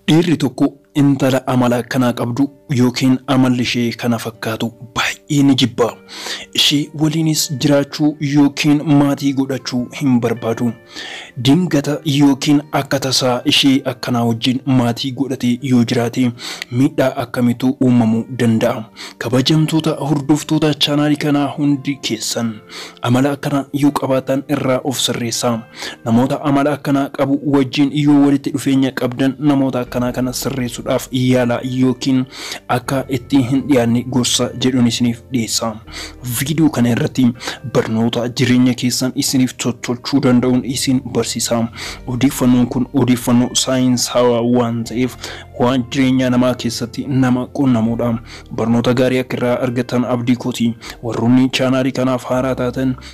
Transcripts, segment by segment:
Dhiirri tokko intala amala akkanaa qabdu yookiin amalli ishee kana fakkaatu baay'ee ni jibba. Ishee waliinis jiraachuu yookiin maatii godhachuu hin barbaadu. Dingata yookiin akka tasaa ishee akkanaa wajjin maatii godhatee yoo jiraate miidhaa akkamiitu uumamuu danda'a? Kabajamtoota hordoftoota chaanaalii kanaa hundi keessan amala akkanaa yoo qabaattan irraa of sirreessaa. Namoota amala akkanaa qabu wajjin yoo walitti dhufeenya qabdan namoota akkanaa kana sirreessuudhaaf yaalaa yookiin akka itti hin dhiyaanne gorsa jedhun isiniif dhiyeessa. Viidiyoo kana irratti barnoota jireenya keessan isiniif tottolchuu danda'uun isin barsiisa. Odeeffannoon kun odeeffannoo saayinsaawaa waan ta'eef waan jireenyaa namaa keessatti nama qunnamuudha. Barnoota gaarii akka irraa argattan abdii kooti. Warroonni chaanaalii kanaaf haaraa taatan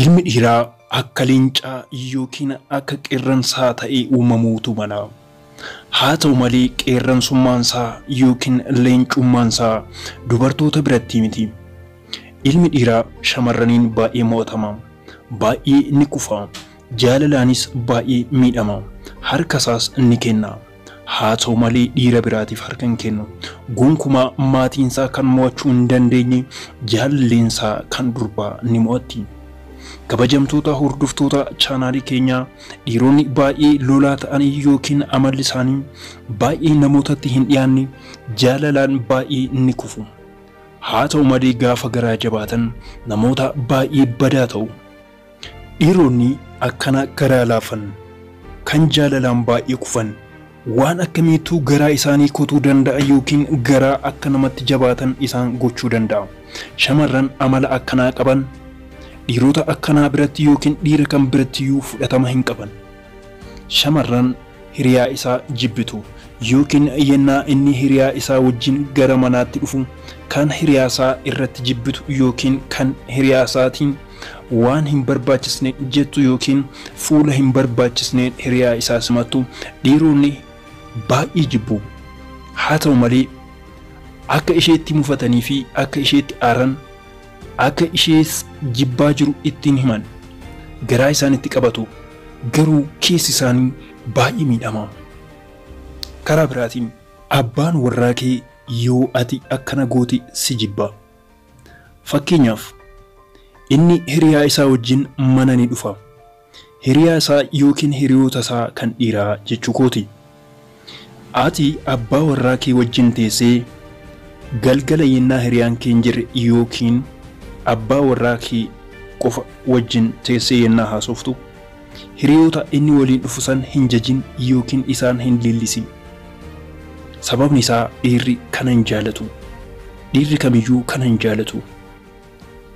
Ilmi dhiiraa akka leencaa yookiin akka qeerransaa ta'ee uumamuutu mala. Haa ta'u malee qeerransummaansaa yookiin leencummaansaa dubartoota biratti miti. Ilmi dhiiraa shamarraniin baay'ee mo'atama. Baay'ee ni kufa. Jaalalaanis baay'ee miidhama. Harkasaas ni kenna. Haa ta'u malee dhiira biraatiif harka hin kennu. Gonkumaa maatiinsaa kan mo'achuu hin dandeenye jaalaleensaa kan durbaa ni mo'atti. Kabajamtoota hordoftoota chaanaalii keenyaa dhiironni baay'ee lolaa ta'anii yookiin amalli isaanii baay'ee namootatti hin dhiyaanne jaalalaan baay'ee ni kufu. Haa ta'u malee gaafa garaa jabaatan namoota baay'ee badaa ta'u. Dhiironni akkana garaa laafan, kan jaalalaan baay'ee kufan, waan akkamiitu garaa isaanii kutuu danda'a ykn garaa akka namatti jabaatan isaan gochuu danda'a? Shamarran amala akkanaa qaban dhiirota akkanaa biratti ykn dhiira kam birattiyyuu fudhatama hin qaban. Shamarran hiriyaa isaa jibbitu ykn yennaa inni hiriyaa isaa wajjin gara manaatti dhufu kan hiriyaa isaa irratti jibbitu ykn kan hiriyaa isaatiin waan hin barbaachisne jettu ykn fuula hin barbaachisneen hiriyaa isaa simattu dhiironni baay'ee jibbu. Haa ta'u malee, akka isheetti mufatanii fi akka isheetti aaran, Akka ishees jibbaa jiru itti hin himan. Garaa isaanitti qabatu. Garuu keessi isaanii baay'ee miidhama. Karaa biraatiin abbaan warraa kee yoo ati akkana goote si jibba. Fakkeenyaaf, inni hiriyaa isaa wajjin mana ni dhufa. Hiriyaa isaa yookiin hiriyoota isaa kan dhiiraa jechuu kooti. Ati abbaa warraa kee wajjin teessee galgala yennaa hiriyaan kee hin jirre yookiin abbaa warraa kee qofa wajjin teessee yennaa haasoftu, hiriyoota inni waliin dhufu san hin jajin yookiin isaan hin leellisin. Sababni isaa dhiirri kana hin jaalatu. Dhiirri kamiyyuu kana hin jaalatu.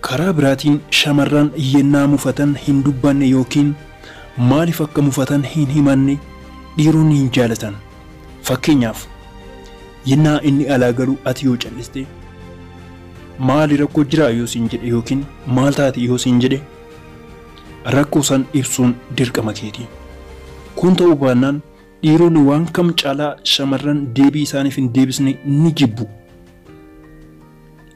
Karaa biraatiin shamarran yennaa mufatan hin dubbanne yookiin maaliif akka mufatan hin himanne dhiironni hin jaalatan. Fakkeenyaaf, yennaa inni alaa galu ati yoo cal'iste, maali rakkoo jiraa yoo siin jedhe yookiin maal taate yoo siin jedhe rakkoo san ibsuun dirqama keeti. Kun ta'uu baannaan dhiironni waan kam caalaa shamarran deebii isaaniif hin deebisne ni jibbu.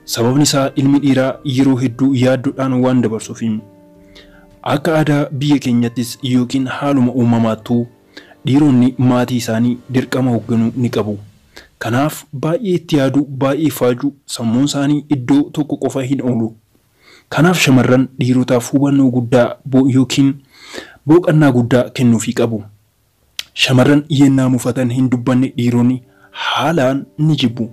Sababni isaa ilmi dhiiraa yeroo hedduu yaaddodhaan waan dabarsuufi. Akka aadaa biyya keenyattis yookiin haaluma uumamaattuu dhiironni maatii isaanii dirqama hogganuu ni qabu. Kanaaf baay'ee itti yaadu, baay'ee faaju, sammuun isaanii iddoo tokko qofa hin oolu. Kanaaf shamarran dhiirotaaf hubannoo guddaa bo yookiin booqannaa guddaa kennuufii qabu. Shamarran yennaa mufatan hin dubbanne dhiironni haalaan ni jibbu.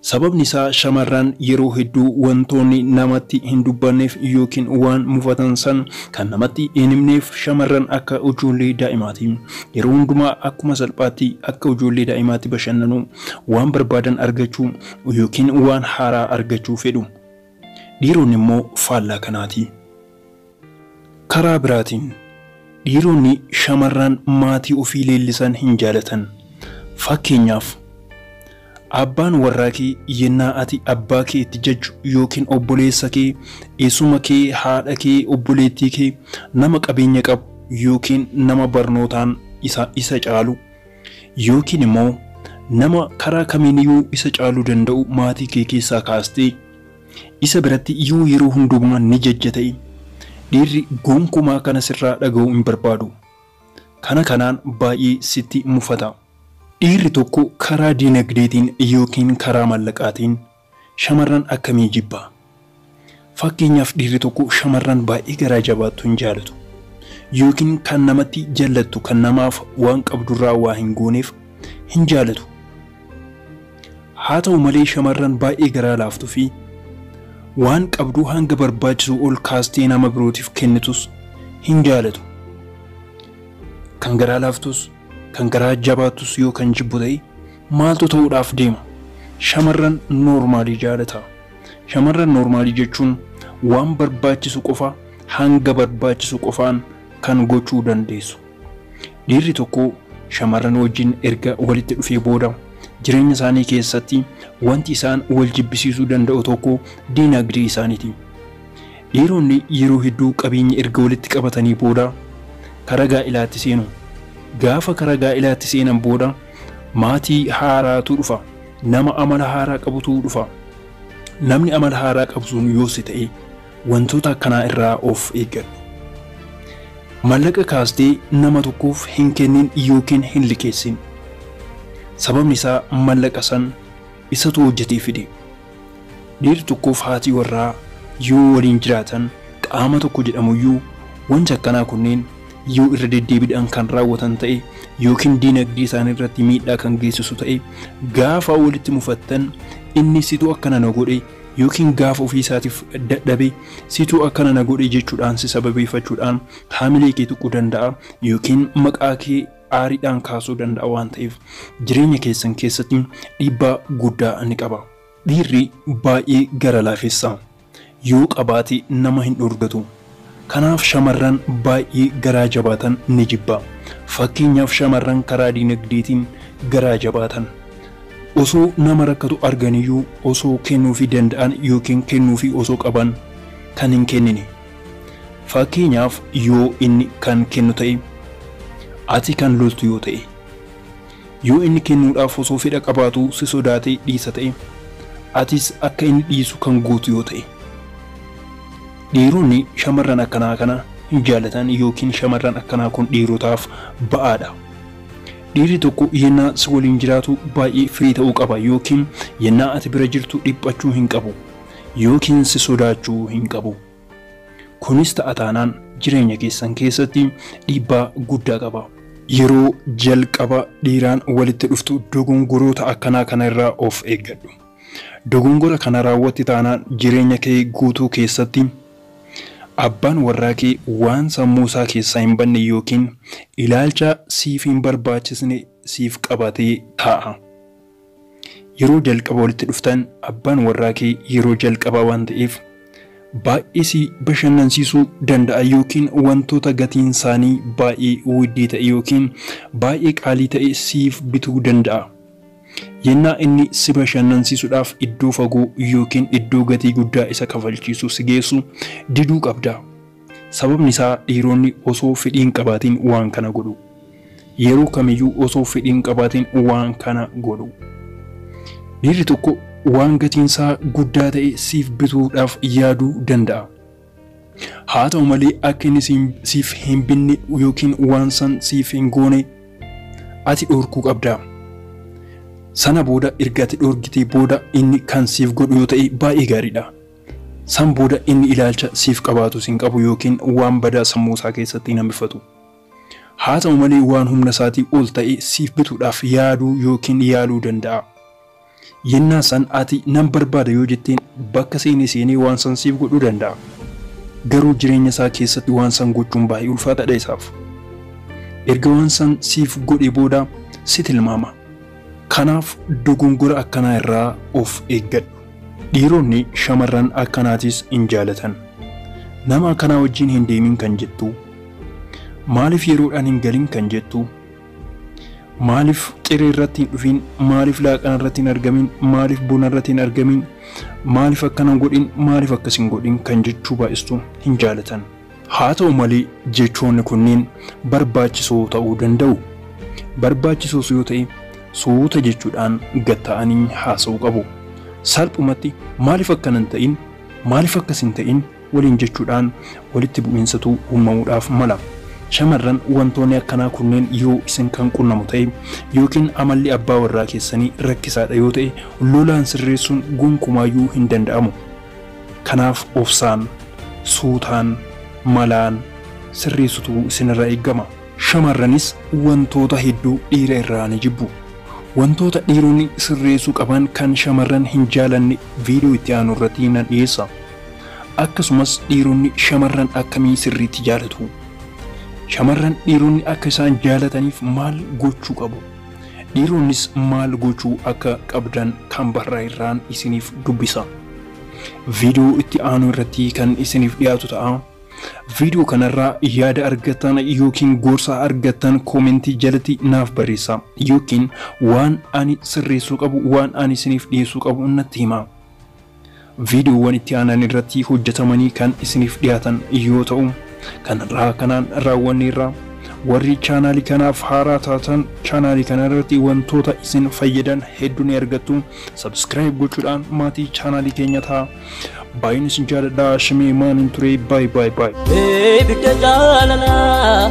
Sababni isaa shamarran yeroo hedduu wantoonni namatti hin dubbanneef yookiin waan mufatan san kan namatti hin himneef shamarran akka ujoollee daa'imaati. Yeroo hundumaa akkuma salphaatti akka ujoollee daa'imaatti bashannanu, waan barbaadan argachuu yookiin waan haaraa argachuu fedhu. Dhiironni immoo faallaa kanaati. Karaa biraatiin, dhiironni shamarran maatii ofii leellisan hin jaalatan. Fakkeenyaaf, abbaan warraa kee yennaa ati abbaa kee itti jajju yookiin obboleessa kee, eessuma kee, haadha kee, obboleettii kee, nama qabeenya qabu yookiin nama barnootaan isa isa caalu yookiin immoo nama karaa kamiiniyuu isa caaluu danda'u maatii kee keessaa kaastee, Isa biratti yoo yeroo hundumaa ni jajja ta'e, dhiirri gonkumaa kana sirraa dhaga'uu hin barbaadu. Kana kanaan baay'ee sitti mufata. Dhiirri tokko karaa dinagdeetiin ykn karaa maallaqaatiin shamarran akkamii jibba? Fakkeenyaaf dhiirri tokko shamarran baay'ee garaa jabaattu hin jaalatu. Ykn kan namatti jallattu kan namaaf waan qabdurraa waa hin gooneef hin jaalatu. Haa ta'u malee shamarran baay'ee garaa laaftu fi waan qabdu hanga barbaachisuu ol kaastee nama birootiif kennitus hin jaalatu. Kan garaa laaftus, kan garaa jabaattus yoo kan jibbu ta'e maaltu ta'uudhaaf deema? Shamarran noormaalii jaalata. Shamarran noormaalii jechuun waan barbaachisu qofa hanga barbaachisu qofaan kan gochuu dandeessu. Dhiirri tokko shamarran wajjin erga walitti dhufee booda jireenya isaanii keessatti wanti isaan wal jibbisiisuu danda'u tokko diinagdee isaaniiti. Dhiironni yeroo hedduu qabeenya erga walitti qabatanii booda karaa gaa'ilaatti seenu. Gaafa karaa gaa'ilaatti seenan booda maatii haaraatu dhufa. Nama amala haaraa qabutu dhufa. Namni amala haaraa qabu sun yoos ta'e Wantoota akkanaa irraa of eeggadhu. Maallaqa kaastee nama tokkoof hin kennin ykn hin liqeessin. Sababni isaa maallaqa san isatu hojjatee fide. Dhiirri tokkoof haati warraa yoo waliin jiraatan qaama tokko jedhamuyyuu wanti akkanaa kunneen yoo irra deddeebidhaan kan raawwatan ta'e ykn diinagdee isaanii irratti miidhaa kan geessisu ta'e gaafa walitti mufattan inni situ akkana na godhe ykn gaafa ofii isaatiif dadhabe situ akkana na godhe jechuudhaan si sababeeffachuudhaan haamilee kee tuquu danda'a ykn maqaa kee aariidhaan kaasuu danda'a waan ta'eef jireenya keessan keessatti dhiibbaa guddaa ni qaba. Dhiirri baay'ee gara laafessa yoo qabaate nama hin dhorgatu. Kanaaf shamarran baay'ee garaa jabaatan ni jibba. Fakkeenyaaf shamarran karaa dinagdeetiin garaa jabaatan. Osoo nama rakkatu arganiyyuu osoo kennuufii danda'an yookiin kennuufii osoo qaban kan hin kennine. Fakkeenyaaf yoo inni kan kennu ta'e, ati kan loltu yoo ta'e. Yoo inni kennuudhaaf osoo fedha qabaatuu si sodaatee dhiisa ta'e, atis akka inni dhiisu kan gootu yoo ta'e. Dhiironni shamarran akkanaa kana hin jaalatan yookiin shamarran akkanaa kun dhiirotaaf ba'aadha. Dhiirri tokko yennaa si waliin jiraatu baay'ee firii ta'uu qaba yookiin yennaa ati bira jirtu dhiphachuu hin qabu yookiin si sodaachuu hin qabu. Kunis ta'a taanaan jireenya keessan keessatti dhiibbaa guddaa qaba. Yeroo jalqaba dhiiraan walitti dhuftu dogongoroota akkanaa kana irraa of eeggadhu. Dogongora kana raawwatte taanaan jireenya kee guutuu keessatti abbaan warraa kee waan sammuu isaa keessaa hin badne ykn ilaalcha siif hin barbaachisne siif qabatee taa'a. Yeroo jalqaba walitti dhuftan abbaan warraa kee yeroo jalqabaa waan ta'eef baay'ee si bashannansiisuu danda'a ykn wantoota gatiin isaanii baay'ee widdii ta'e ykn baay'ee qaalii ta'e siif bituu danda'a. Yennaa inni si bashannansiisuudhaaf iddoo fagoo yookiin iddoo gatii guddaa isa kafalchiisu si geessu diduu qabda. Sababni isaa dhiironni osoo fedhii hin qabaatin waan kana godhu. Yeroo kamiyyuu osoo fedhii hin qabaatin waan kana godhu. Dhiirri tokko waan gatiin isaa guddaa ta'e siif bituudhaaf yaaduu danda'a. Haa ta'u malee akka inni siif hin binne yookiin waan san siif hin goone ati dhorkuu qabda. Sana booda erga ati dhorgitee booda inni kan siif godhu yoo ta'e baay'ee gaariidha. San booda inni ilaalcha siif qabaatu sin qabu yookiin waan badaa sammuu isaa keessatti hin hambifatu. Haa ta'u malee waan humna isaatii ol ta'e siif bituudhaaf yaaduu yookiin yaaluu danda'a. Yennaa san ati nan barbaada yoo jetteen bakka seene seenee waan san siif godhuu danda'a. Garuu jireenya isaa keessatti waan san gochuun baay'ee ulfaataadha isaaf. Erga waan san siif godhee booda si tilmaama. Kanaaf dogongora akkanaa irraa of eeggadhu. Dhiironni shamarran akkanaatiis hin jaalatan. Nama akkanaa wajjin hin deemin kan jettu, maaliif yeroodhaan hin galin kan jettu, Maaliif ciree irratti hin dhufiin? Maaliif laaqana irratti hin argamiin? Maaliif bona irratti hin argamiin? Maaliif akkana hin godhin? Maaliif akkas hin godhin? kan jechuu baay'istu hin jaalatan. Haa ta'u malee jechoonni kunneen barbaachisoo ta'uu danda'u. Barbaachisoos yoo ta'e suuta jechuudhaan gad ta'anii haasa'uu qabu. Salphumatti maaliif akkana hin ta'in? Maaliif akkas hin ta'in? waliin jechuudhaan walitti bu'iinsatu uumamuudhaaf mala. Shamarran wantoonni akkanaa kunneen yoo isin kan qunnamu ta'e yookiin amalli abbaa warraa keessanii rakkisaadha yoo ta'e lolaan sirreessuun gonkumaayyuu hin danda'amu. Kanaaf obsaan, suutaan, malaan sirreessutu isinirraa eegama. Shamarranis wantoota hedduu dhiira irraa ni jibbu. Wantoota dhiironni sirreessuu qaban kan shamarran hin jaalanne viidiyoo itti aanu irratti nan dhiyeessa. Akkasumas dhiironni shamarran akkamii sirriitti jaalatu? Shamarran dhiironni akka isaan jaalataniif maal gochuu qabu? Dhiironnis maal gochuu akka qabdan Canberra irraan isiniif dubbisa. Viidiyoo itti aanu irratti kan isiniif dhiyaatu ta'a. Viidiyoo kanarraa yaada argattan yookiin gorsa argattan koomentii jalatti naaf barreessa yookiin waan ani sirreessuu qabu waan ani isiniif dhiyeessuu qabu natti hima. Viidiyoowwan itti aanan irratti hojjetamanii kan isiniif dhiyaatan yoo ta'u, kan har'aa kanaan raawwanneerra. Warri chaanaalii kanaaf haaraa taatan chaanaalii kana irratti wantoota isin fayyadan hedduu ni argattu. Subscribe gochuudhaan maatii chaanaalii keenya ta'a. Baay'een isin jaaladha. Shimee maanin ture. Baay baay baay. Ibidda jaalalaa.